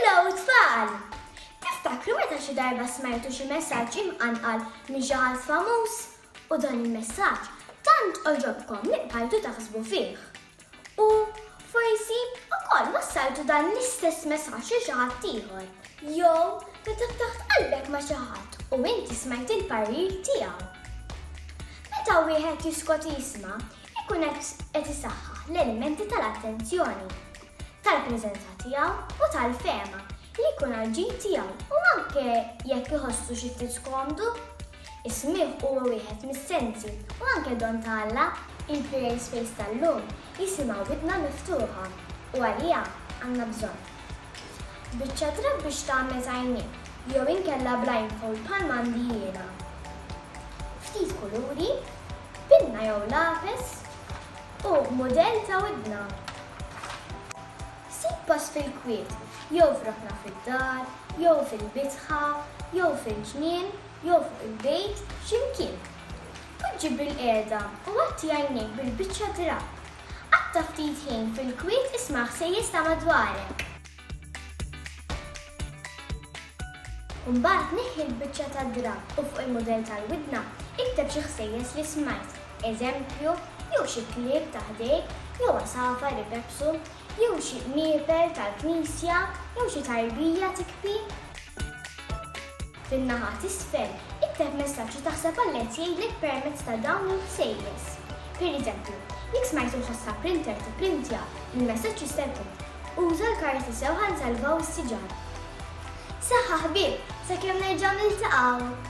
Hello tfal! Tiftakru meta xi darba smajtu xi messaġġ imqanqal minn xi ħadd famuż u dan il-messaġġ tant oġobkom li bqajtu taħsbu fih. U forsi ukoll wassaltu dan l-istess messaġġ lil xi ħadd ieħor. Jew meta ftaħt qalbek ma' xi ħadd u inti smajt il-parir tiegħu. Meta wieħed jiskot jisma', ikun qed isaħħaħ l-elementi tal-attenzjoni. tal-preżenza tiegħu u tal-fehma li jkun għall-ġid tiegħu u anke jekk iħossu xi ftit skomdu. Is-smigħ huwa wieħed mis-sensi u anke don ta' Alla. Il-Create Space tal-lum jisimha widna miftuħa u għaliha għandna bżonn. Biċċa drapp biex tagħmez għajnejk jew inkella blindfold bħalma għandi jiena. Ftit kuluri, pinna jew lapes, u mudell ta' widna. Sib post fil-kwiet, jew f'rokna fid-dar, jew fil-bitħa, jew fil-ġnien, jew fuq il-bejt, xi mkien. Poġġi bilqiegħda u għatti għajnejk bil-biċċa drapp. Qatta' ftit ħin fil-kwiet isma' ħsejjes ta' madwarek. Mbagħad neħħi l-biċċa tad-drapp u fuq il-mudell tal-widna ikteb xi ħsejjes li smajt, eżempju, jew xi klieb ta' ħdejk, jew għasafar ipepsu, jew xi qnieper tal-knisja, jew xi tarbija tikpi. Fin-naħa t'isfel, ikteb messaġġ li taħseb Alla qed jgħidlek permezz ta' dawn il-ħsejjes. Pereżempju, jekk smajt il-ħoss ta' printer tipprintja, il-messaġġ jista' jkun Uża l-karti sew ħa nsalvaw is-siġar. Saħħa ħbieb, sakemm nerġgħu niltaqgħu!